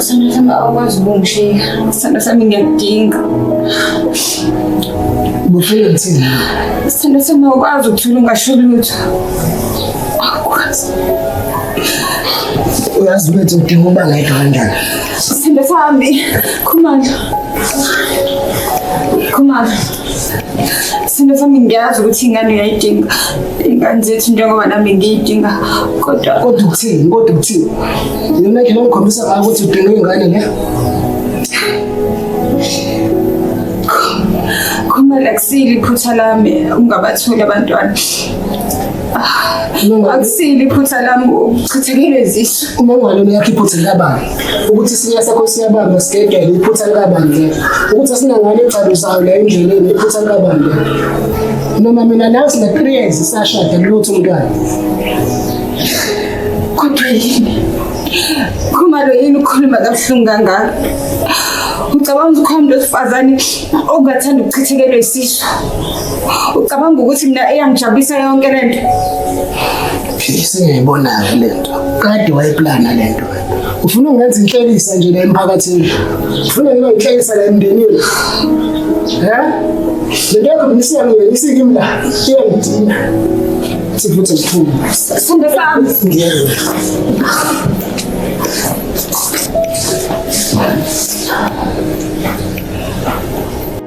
Sendasama awukwazi ukungishiya. Sendasami ngiyakudinga. Bufile ngithini? Sendasama awukwazi ukuthula ungasho lutho. Akwazi. Uyazi ukuthi udinga uba ngedwa kanjani? Sithembe sihambi. Khumandla. Khumandla. Sithembe sami ngiyazi ukuthi ingane uyayidinga. Ingane zethu njengoba nami ngiyidinga. Kodwa kodwa ukuthini? Kodwa ukuthini? Yona ke ngikhombisa ngayo ukuthi udinga ingane ne? Khumandla kusile iphutha lami ungabatholi abantwana. akusile iphutha lami uchithekile izisu uma ungalona yakho iphutha likabani ukuthi isinya sakho siyabamba sigedele iphutha likabani ke ukuthi asinangane egcaluzayo la endleleni iphutha likabani ke noma mina nawe sina three years sashada kulutho umntwana kodwa yini khumalo yini ukhuluma kabuhlungu kangaka ucabanga ukuthi ukhona umuntu wesifazane ongathanda ukuchithekelwa isisu ucabanga ukuthi mina eyangijabulisa yonke le nto philisa ngiyibona-ke le nto kade wayeplana le nto ufuna ungenza inhlekisa nje la emphakathini ufuna ngiba inhlekisa la emndenini um le nto yakhobilisiya mina isikimi la iyangidina sifuthi ngiphume sifunde sami Thank you.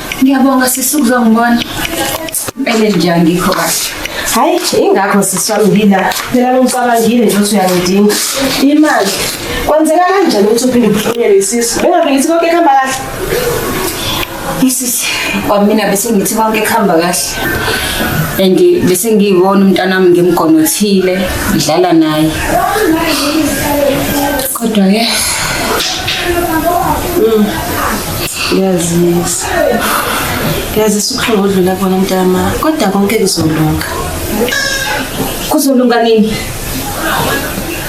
Ngiyabonga sisi ukuzongibona. Impela nje angikho kahle. Hayi ingakho sisi wami ngila. Phela ngicabangile nje ukuthi uyangidinga. Imali. Kwenzeka kanjani ukuthi uphinde ubuhlonyelwe isisu? Bengabe ngithi konke kuhamba kahle. Isisi kwamina bese ngithi konke kuhamba kahle. And bese ngiyibona umntanami ngimgonothile, ngidlala naye. Kodwa ke Yazisa. Yazisa ubuhlungu odlula kubona mntama kodwa konke kuzolunga. Kuzolunga nini?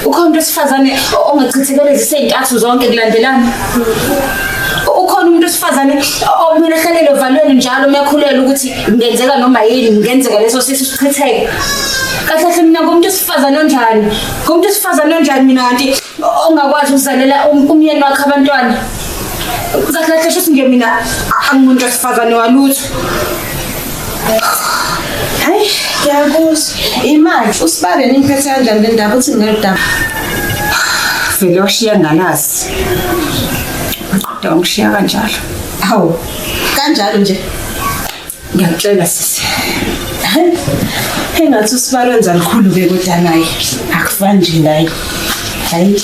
Ukhona umuntu wesifazane ongachithekele zisezintathu zonke kulandelana. Ukhona umuntu wesifazane okumele ahlelele ovalweni njalo uyakhulelwa ukuthi ngenzeka noma yini ngenzeka leso sisu sichitheke. Kahle kahle mina ngumuntu wesifazane onjani? Ngumuntu wesifazane onjani mina kanti ongakwazi ukuzalela um-, umyeni wakhe abantwana kahle kahle sho ukuthi ngemina angimuntu wesifazane walutho hayi ngiyakuzwa imali usibale nimphethe kanjani le ndaba uthi ngeludaba vele washiya ngalazi kodwa wangishiya kanjalo hawu kanjalo nje Ngiyakutshela sisi. Engathi usibalo wenza likhulu ke kodwa naye. Akufani nje naye. Hayi.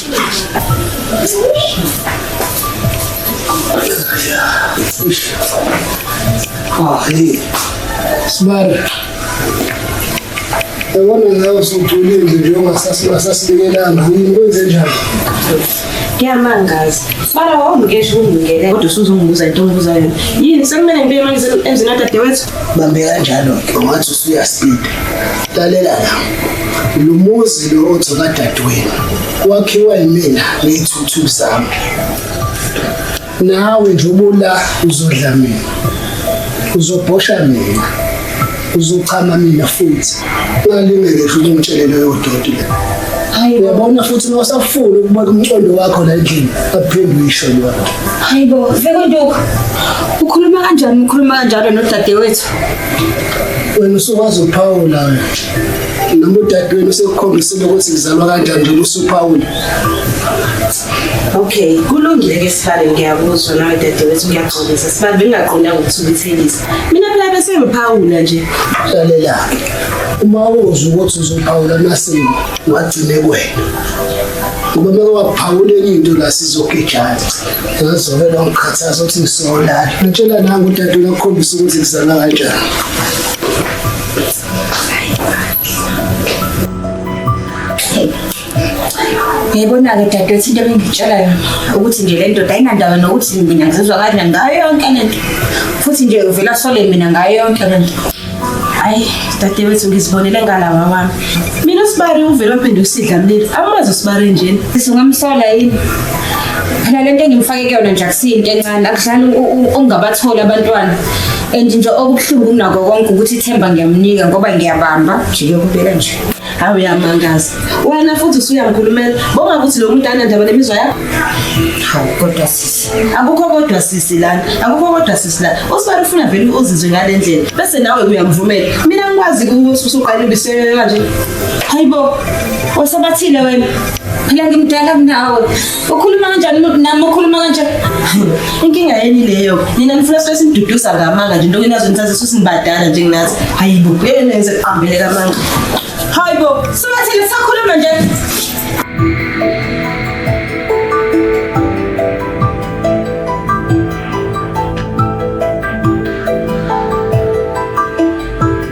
Ah, hey. Sibalo. Yabona ngawe usugculile nje njengoba sasibingelana. Ngikwenze njani? Ngiyamangaza. Sibala wawumkesha ukungingele kodwa usuzongibuza into ongibuza yona. Yini sekumele ngibe manje emzini kadadewethu? Bambe kanjalo ke ungathi usuyasinda. Lalela la. Lo muzi lo othi kadadewenu wakhiwa yimina ngeyithuthu zami. nawe nje ubula uzodla mina uzobhosha mina uzochama mina futhi ungalingele futhi ungitshele leyo doti le hayi uyabona futhi uma usafuna ukubona umcondo wakho la endlini aphinde uyisho leyo hayi bo vekonduku ukhuluma kanjani ukhuluma kanjalo nodadewethu wena usukwazi ukuphawula wena noma udadewenu sekukhombisile ukuthi ngizalwa kanjani njengoba usuphawula Okay, kulungile ke sibale ngiyakuzwa nawe dade wethu ngiyaxolisa sibale bengaqondanga ukuthukuthelisa. Mina phela bese ngiphawula nje. Lalela. Uma uzwa ukuthi uzophawula amasimo wagcine kwena. Ngoba uma waphawula enye into la sizogijana. Ngizovela ngikhathaza ukuthi ngisolala. Ngitshela nangu udade uyakhombisa ukuthi kuzala kanjani. Ngiyibona-ke dadewethu into ebengitshela yona ukuthi nje le ndoda ayinandaba nokuthi mina ngizizwa kanje ngayo yonke le nto futhi nje uvela sole mina ngayo yonke le nto hayi dadewethu ngizibonele ngala wawami mina usibari uvele waphinde usidla mlilo amazi usibari njena sisungamsola yini phela lento engimfake kuyona nje akusiyinto encane akudlali ungabatholi abantwana and nje okubuhlungu kunako konke ukuthi ithemba ngiyamnika ngoba ngiyabamba nje kuyokubeka nje Hawu uyamangaza. Wena futhi usuyangikhulumela. Bonga ukuthi lo muntu anendaba nemizwa yakho. Hawu kodwa sisi. Akukho kodwa sisi lana. Akukho kodwa sisi lana. Usibani ufuna vele uzizwe ngale ndlela. Bese nawe uyamvumela. Mina ngikwazi ukuthi usuqala ubisele kanje. Hayibo. Wasabathile wena. Phela ngimdala kunawe. Ukhuluma kanjani umuntu nami ukhuluma kanjani? Inkinga yeni leyo? Nina nifuna sibe simduduza ngamanga nje into enazo nithathe sisibadala nje nginathi. Hayibo, ngeke nenze kuqambele kamanga. Hayibo, sibathile sakhuluma nje.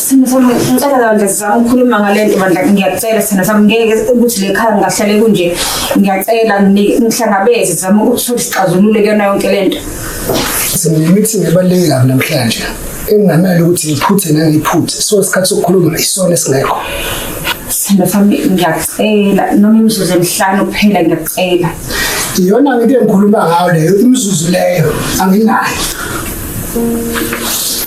Sithando sami ngicela bandla sizama ukukhuluma ngale nto bandla ngiyacela sithando sami ngeke ukuthi le khaya ngingahlale kunje ngiyacela ngi- ngihlangabeze sizama ukuthola isixazululo kuyona yonke le nto Sengimithi ebaluleke kabi namhlanje. Engingamele ukuthi ngiphuthe nangiphuthe. So isikhathi sokukhuluma isona esingekho. sithando sami ngiyacela noma imizuzu emihlanu kuphela ngiyacela Iyona into engikhuluma ngayo leyo imizuzu leyo anginayo.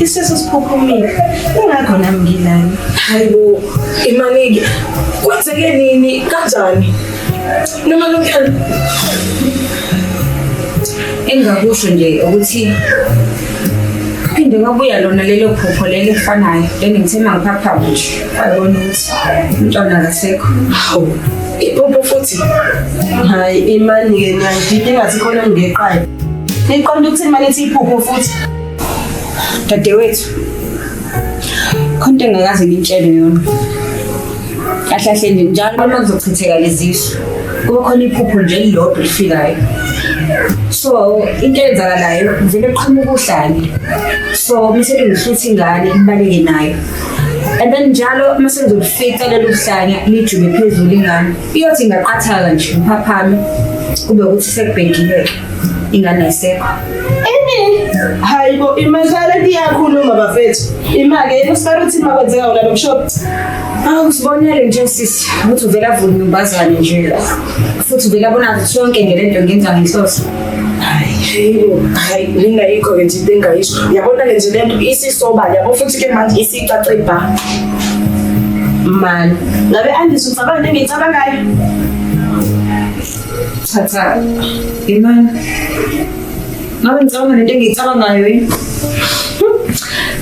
isisu siphuphumile ingakho nami ngilana hayibo imanike kwenzeke nini kanjani noma lomfana engakusho nje ukuthi phinde kwabuya lona lelo phupho leli efanayo leli ngithe mangiphapha ngisho wayibona ukuthi umntwana akasekho hawu iphupho futhi hayi imani-ke niyangidida ingathi khona ngigeqayo niqonda ukuthi imani ithi iphupho futhi dadewethu khona into engakaze ngintshele yona kahle kahle nje njalo uma kuzochitheka lezisu kuba khona iphupho nje elilodwa elifikayo so into eyenzakalayo vele kuqhamuka uhlale so bese ngihlutha ingane ibaleke nayo and then njalo uma sengizokufica lelo hlanya lijube phezulu ingane iyothi ingaqathala nje ngiphaphame kube ukuthi sekubhekile ingane ayisekho hayibo imadlala liyakhuluma bafethu imake yena usibara ukuthi ma kwenzeka wona lo mshop awusibonele nje sisi ukuthi uvele avule imbazane nje la futhi uvele abona sonke nje lento ngenza ngenhloso hayi lingayikho ke nje into engayisho yabona ke nje lento isisobala yabo futhi ke manje isicace bha mani ngabe andisho ucabanga into engiyicabangayo Cha cha. Imani. Ngabe ngicabanga nento engiyicabangayo yini?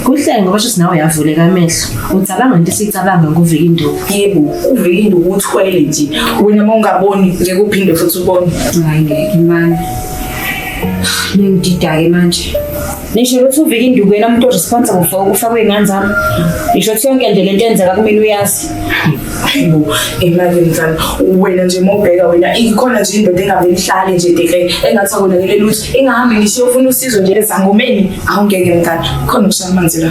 Kuhle ngoba shuthi nawe uyavuleka amehlo. Ucabanga into esicabanga nguvika induku. Yebo, uvika induku uthwele nje. Wena uma ungaboni ngeke uphinde futhi ubone. Hayi ngeke imani. Ngididake manje. nisho ukuthi uvika induku yena umuntu oresponsible for ukufa kwey'ngane zami nisho ukuthi yonke nje le nto enzeka kumina uyazi ayibo emalini zami wena nje mobheka wena ikhona nje indoda engabe ihlale nje deke engathi akonakele lutho ingahambi ngisho ufuna usizo nje ezangomeni awungeke mntana khona ukushamanzi la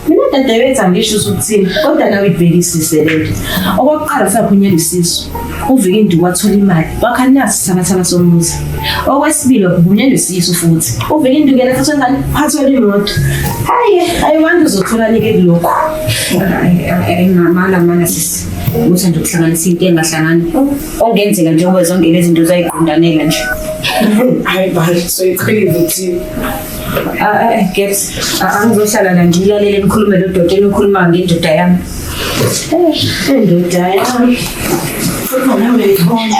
mina dadewethu angisho usuthini kodwa nawe ibhekisise lento okokuqala usaphunyela isisu uvike induku wathola imali wakha nasi sabathaba somuzi okwesibili wakubunyela isisu futhi uvike induku yena futhi engane phathwela imoto hayi hayi wanda uzotholanike kulokhu ngamala mana sisi uthanda ukuhlanganisa into engahlangani ongenzeka njengoba zonke lezi zinto zayiqondanela nje hayi bani soyiqhelile ukuthi Gabs, angizohlala la ngilalele nikhulume lo doti enikhuluma ngendoda yami. Eh, indoda yami. Futhi mina ngiyibona.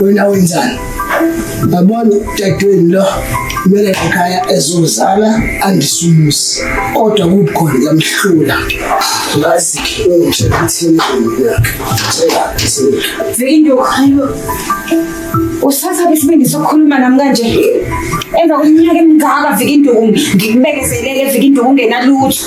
wena wenzani yabona dadweni lo kumele ekhaya ezozala andisumusi kodwa kukhona yamhlula ngazi ukuthi kuthini Vindo ayo usasa besibindi sokhuluma nami kanje emva kweminyaka emingaka vika induku ngikubekezelele vika induku ungenalutho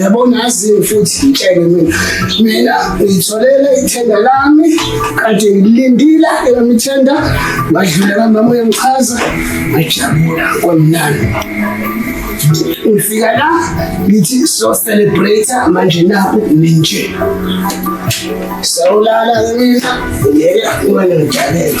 yabona aziyo futhi ngitshele mina mina ngitholele ithenda lami kade ngilindile eyami ithenda ngadlula kamama uyangichaza ngajabula kwamnandi ngifika la ngithi so celebrate manje naku ninje sawulala mina ngeke uma ngijalela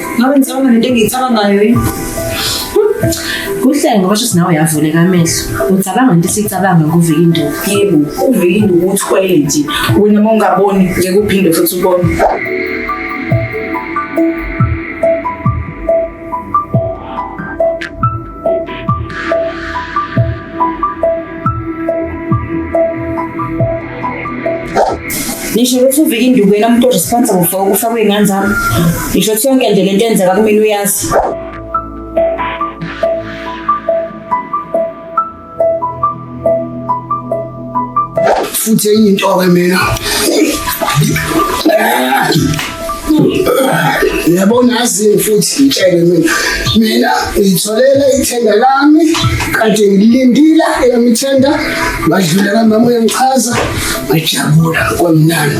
Ngabe ngicabanga nento engiyicabangayo yini? Kuhle ngoba shuthi nawe uyavuleka amehlo. Ucabanga into esicabanga ngokuvika induku. Yebo, uvike induku uthwele nje. Wena uma ungaboni ngeke uphinde futhi ubone. ngisho ukuthi uvika induku yena umuntu odispensa kufa ukufa kwey'ngane zami ngisho ukuthi yonke nje le nto enzeka kumina uyazi futhi enye into ke mina yabona azini futhi ngitshele mina mina ngitholele ithenda lami kade ngilindile eyami ithenda ngadlula kamama uyangichaza ngajabula kwamnandi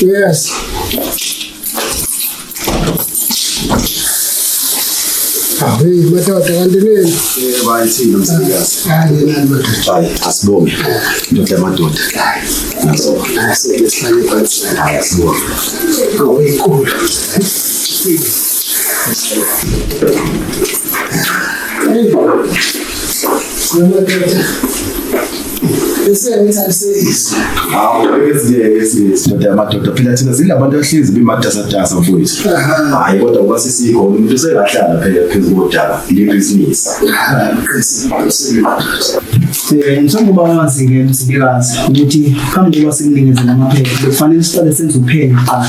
Yes. Hayi madoda kanti nini? Eh bayithini msikazi. Hayi nani madoda. Hayi asibonge. Ndoda yamadoda. Nazo. Asihlale phansi. Hayi asibonge. Awuyikulu. sithatha amadoda phela thina singabantu ahlezi bimatasatasa mfowethu hayi kodwa kuba sisikho umuntu sekahlala phela phezu kodaba libhizinisi njengoba singena sibikazi ukuthi phambi kokuba sikunikeze namaphepha bekufanele siqale senze uphenyo kuqala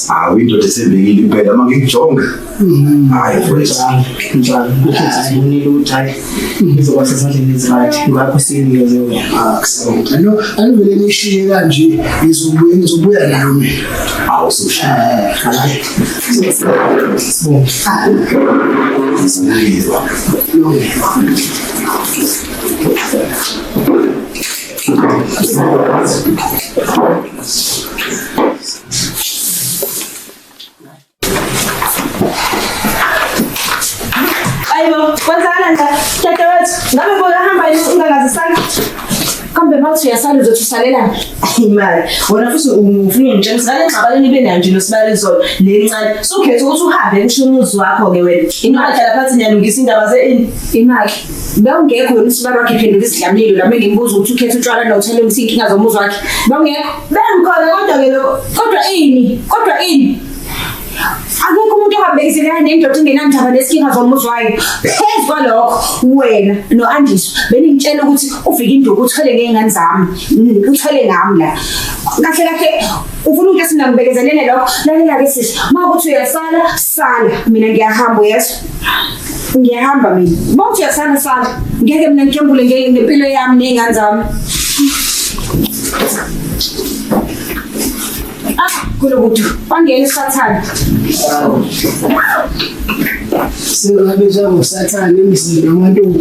hawu indoda esebekile impela uma ngikujonga mm-hmm. hayi mfowethu njalo ukuthi sibonile ukuthi hayi izoba sezandleni ezirayithi ngakho siyiniyoze wena ah, no alivele nishiye kanje ngizobuya ngizobuya nayo mina hawu usushaya sibonge Thank you. Aibo, kwanza ana nda tete wetu ngabe bora hamba ili ungangazi sana kambe mawuthi uyasala uzothusalelan imali wena futhi ufuna ungitshela ukuthi ngale ngxabano nibe nayo nje nosibala izolo le ncane sukhetha ukuthi uhambe kusho umuzi wakho-ke wena imali hlala phansi niyalungisa indaba ze-ini imali Bewungekho wena usibara wakhe phenduka isidlamlilo lami ngimbuza ukuthi ukhetha utshwala nothele ukuthi inkinga zomuzi wakhe. Bewungekho. Bengikhona kodwa ke lokho. Kodwa ini? Kodwa ini? Akekho umuntu ohambekiselana nendoda engenandaba nesinkinga zomuzi wayo. Phezu kwalokho wena noAndiso beningitshela ukuthi ufika induku uthwele ngezingane zami. Mm, Uthwele ngami la. Kahle kahle ufuna ukuthi singambekezelele lokho. Lalela ke sisi, uma ukuthi uyasala, sala. Mina ngiyahamba uyezwa. ngiyahamba mina bonke uyasana sala ngeke mina ngikembule ngempilo yami ney'ngane zami ah kulo kuthi wangena isathane singabe njengosathane emzini wamantombi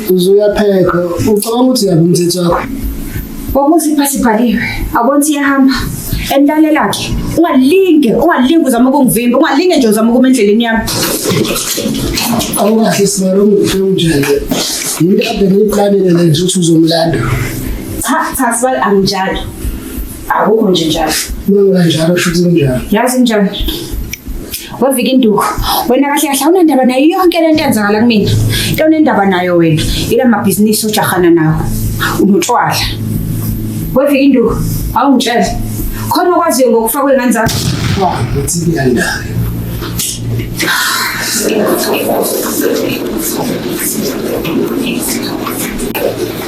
uzuyaphepha ucabanga ukuthi yabo umthetho wakho Wabuza ipasi ibhaliwe. Abona ukuthi iyahamba. Entale lakhe. Ungalinge, ungalinge uzama ukungivimba, ungalinge nje uzama ukuma endleleni yami. Awukahle sibalo ngifungile. Yinto abhekile iplanile nje ukuthi uzomlanda. Cha, cha sibali anginjalo. akukho nje njalo noma kanjalo shuthi kunjalo yazi njalo wavika induku wena kahle kahle awunandaba nayo yonke lento enzakala kumina into onendaba nayo wena ila mabhizinisi ujahana nawo unotshwala wavika induku awungitshele khona okwaziyo ngokufa kwengane zakho ukuthi kuyandayo Thank you.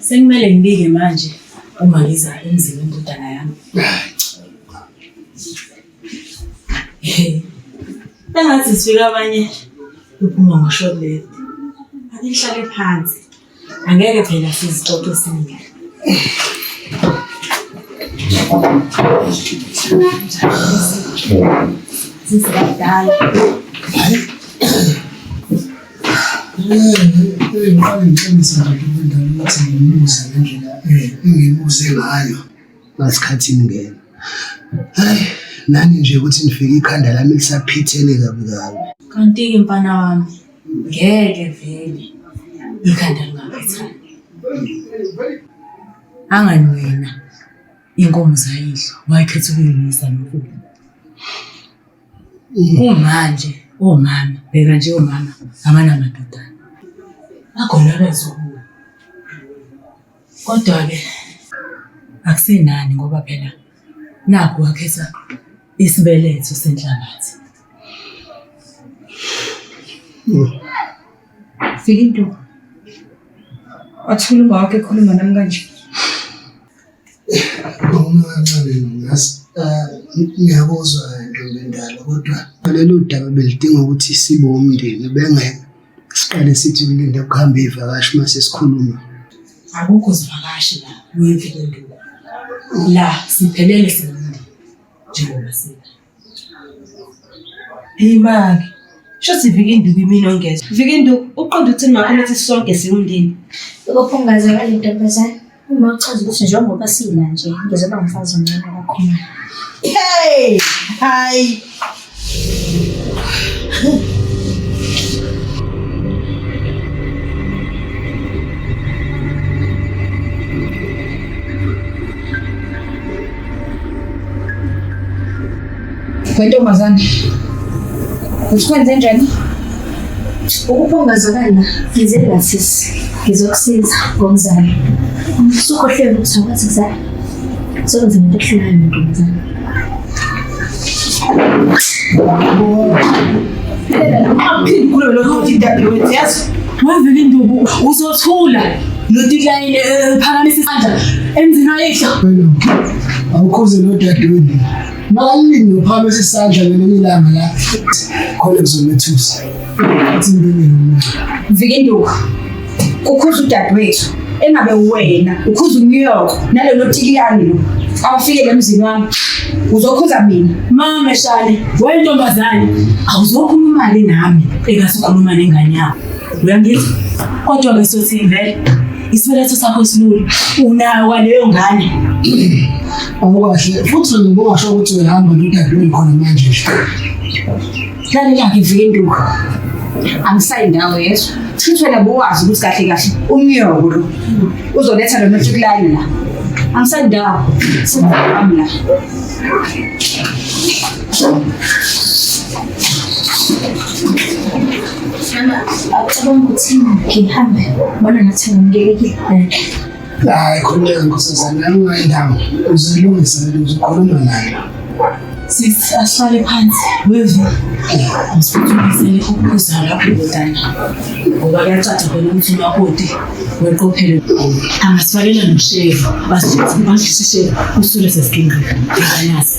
Sekumele ngibike manje uma ngiza emzini wendodana yami. Engathi sifika abanye uphuma ngoshobele. Ake ngihlale phansi. Angeke phela sizixoxe singile. Sisibadala. Ngifake ngicebise nje kube ngane ukuthi ngimuze ngendlela engimuze ngayo ngasikhathi ingena. Hayi nani nje ukuthi nifike ikhanda lami lisaphithene kabi kabi. Kanti-ke mfana wami ngeke vele ikhanda lingaphithani. Angani wena inkomo zayidla wakhetha ukuyimisa nokudla. Kumanje omama bheka nje omama abanamadodana bakhona abazobuya. Kodwa-ke akusenani ngoba phela nakhu wakhetha isibeletho senhlabathi. Fika intombi. Wathula umawakho ekhuluma nami kanje. Uma kancane ngazi ngiyakuzwa ntombi endala kodwa lelo daba belidinga ukuthi sibe umndeni bengeke siqale sithi kulinda kuhambe ivakashi uma sesikhuluma. Akukho zivakashi la kuyimfike induku la siphelele singumndeni njengoba sina. Imaki. Shuthi vika induku imini ongezwa. Vika induku uqonda ukuthi makho nathi sonke siwundini. Ukuphungaza kale ntombazane uma uchaza ukuthi njengoba sila nje ngizoba umfazi omncane kakhulu. Hey! Hayi. Wentombazane, usikwenze njani? Ukupongazakala ngize ngasisi ngizokusiza ngomzali. Sukhohlwe ukuthi akwazi kuzala. Sokwenza into ehlulayo ntombazane. Phela noma uphinde ukhulume lokho uthi dadewethu yazi Wavele induku uzothula notilayini ephakamisa isandla emzini wayihla. Awukhoze nodadewenu. Makalini nophakamisa isandla ngelinye ilanga la khona kuzomethusa. Athi impilo yomuntu. Vika induku. Kukhuza udadewethu. engabe wena ukhuza uNew York nalelo tikiyani lo awufikele emzini wami uzokhuza mina mama shale wentombazane awuzokhuluma imali nami engasikhuluma nengane yakho uyangizwa kodwa ke sothi vele isibeletho sakho silula unayo kwaleyo ngane awukahle futhi ngikungasho ukuthi uyahamba nodadewenu khona manje nje Lalela ke vinduku. Angisayi ndawo yezwa. Futhi wena bowazi ukuthi kahle kahle umnyoko lo uzoletha lona uTukulane la. Angisayi ndawo. Sibami la. Mama, akucabanga ukuthi ngihambe. Bona nathi ngamkelekile. Hayi khululeka nkosazana yami ungayindawo uzilungisa lento uzokhuluma nayo. Sisi asihlale phansi wevu msithulisele ukuza lapho ndodana ngoba kuyacaca khona ukuthi umakoti weqophele angasifalela noshevu basithathe badlise ishevu usule sesiginqa nganazi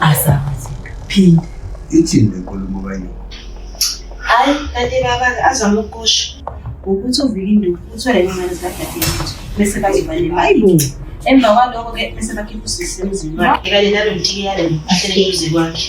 asazi phinde ithini lenkulumo kayo hayi kanti baba azama ukusho ukuthi uvike induku uthwele ingane zikadadewethu bese bazoba nemali emva kwaloko ke bese bakhipha usisi emzini wakhe kanye nalo mthiyalo ahlele emzini wakhe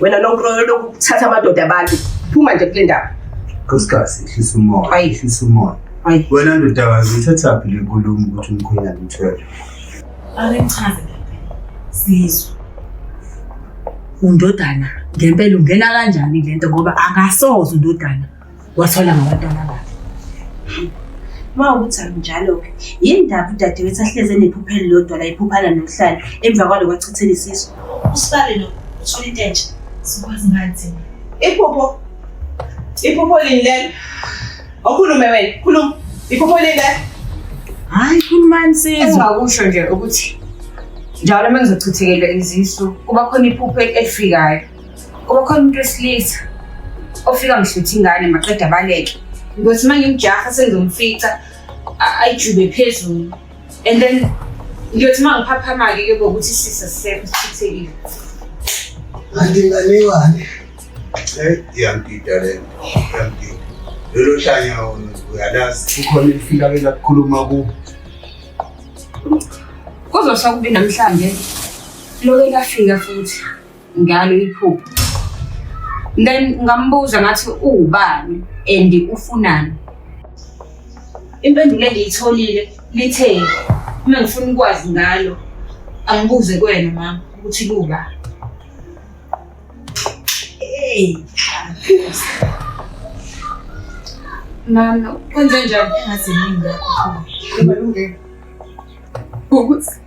wena lokuthatha amadoda abantu phuma nje kule ndawo nkosikazi ehlisa umoya ehlisa umoya wena ndodakazi uthathaphi le nkulumo ukuthi umkhwenyana umthwele ake ngichaze sizwe undodana ngempela ungena kanjani le nto ngoba akasoze undodana Wathola ngabantwana bakhe. Uma ukuthi akunjalo-ke, yini ndaba udadewethu ahlezi enephupha elilodwa la ephuphana nokuhlala emva kwalo kwachithela isisu? Usibale lo, uthole into entsha. Sikwazi ngani thina? Iphupho. Iphupho lini lelo? Okhulume wena, khuluma. Iphupho lini lelo? Hayi, khulumani sizwe. Engingakusho nje ukuthi njalo uma ngizochithekela izisu kuba khona iphupho elifikayo. Kuba khona umuntu wesilisa ofika ngihlutha ingane maqeda abaleke. Ngothi uma ngimjaha sengizomfica a- ayijube phezulu. And then ngiyothi uma ngiphaphama-ke ke bokuthi sisa sisekho sithithekile. Kanti ingane iwane. Eh, iyangida le nto, iyangida. Lolo hlanya wona uyalazi. Kukhona elifika ke lakukhuluma ku. Kuzosa kubi namhlanje. Loke lafika futhi. ngalo iphupho then ngambuza ngathi uwubani and ufunani impendulo engiyitholile lithe uma ngifuna ukwazi ngalo angibuze kwena mama ukuthi kuba hey mama kwenze njani engazi yini ngakho ukuthi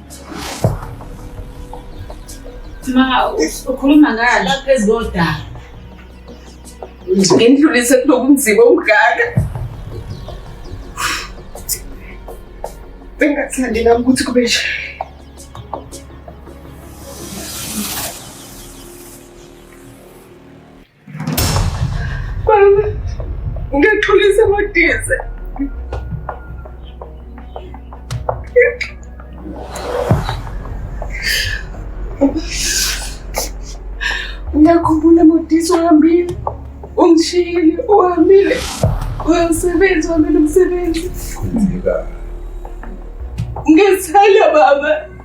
Ma ukhuluma ngani? Lapha phezu kodaka. Ngindlulise kuloku nzima ungaka. Bengathandi nami ukuthi kube nje. Ungaxolisa amadize. Uyakhumbula modiso uhambile, ungishiyile, uhambile, uyasebenza, uhambile umsebenzi. Ngizithanda baba.